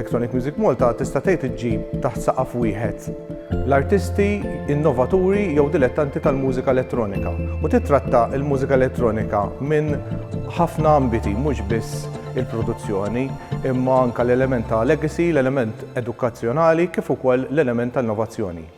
Electronic Music Malta tista' tgħid iġġib taħt saqaf wieħed l-artisti innovaturi jew dilettanti tal-mużika elettronika u titratta l-mużika elettronika minn ħafna ambiti mhux biss il-produzzjoni imma anke l-element ta' legacy, l-element edukazzjonali kif ukoll l-element ta' innovazzjoni.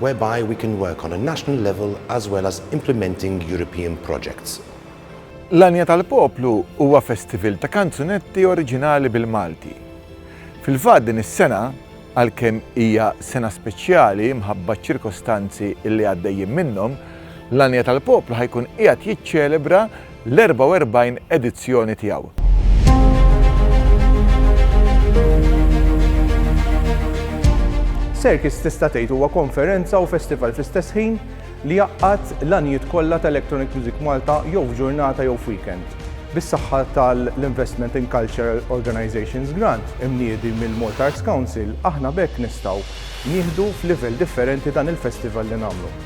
whereby we can work on a national level as well as implementing European projects. L-Għanja tal-Poplu huwa festivil ta' kanzunetti oriġinali bil-Malti. Fil-fatt din is-sena, għalkemm hija sena speċjali mħabba ċ-ċirkostanzi li għaddejjin minnhom, l-Għanja tal-Poplu ħa jkun qiegħed jiċċelebra l-44 edizzjoni tiegħu. Circus tista' tgħid huwa konferenza u festival fl-istess ħin li jaqgħad l-għanijiet kollha ta' Electronic Music Malta jew f'ġurnata jew f'weekend. Bis-saħħa tal-Investment in Cultural Organizations Grant imniedi mill-Malta Arts Council aħna b'hekk nistgħu nieħdu f'livell differenti dan il-festival li nagħmlu.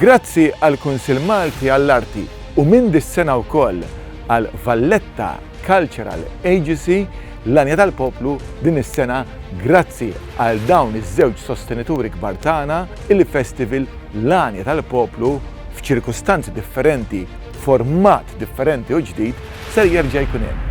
Grazzi għall-Kunsill Malti għall-Arti u minn dis-sena wkoll għal Valletta Cultural Agecy, l-Għanja tal-Poplu din is-sena grazzi għal dawn iż-żewġ sostenituri kbar tagħna, il-Festival L-Għanja tal-Poplu f'ċirkustanzi differenti, format differenti u ġdid ser jerġa' jkun hemm.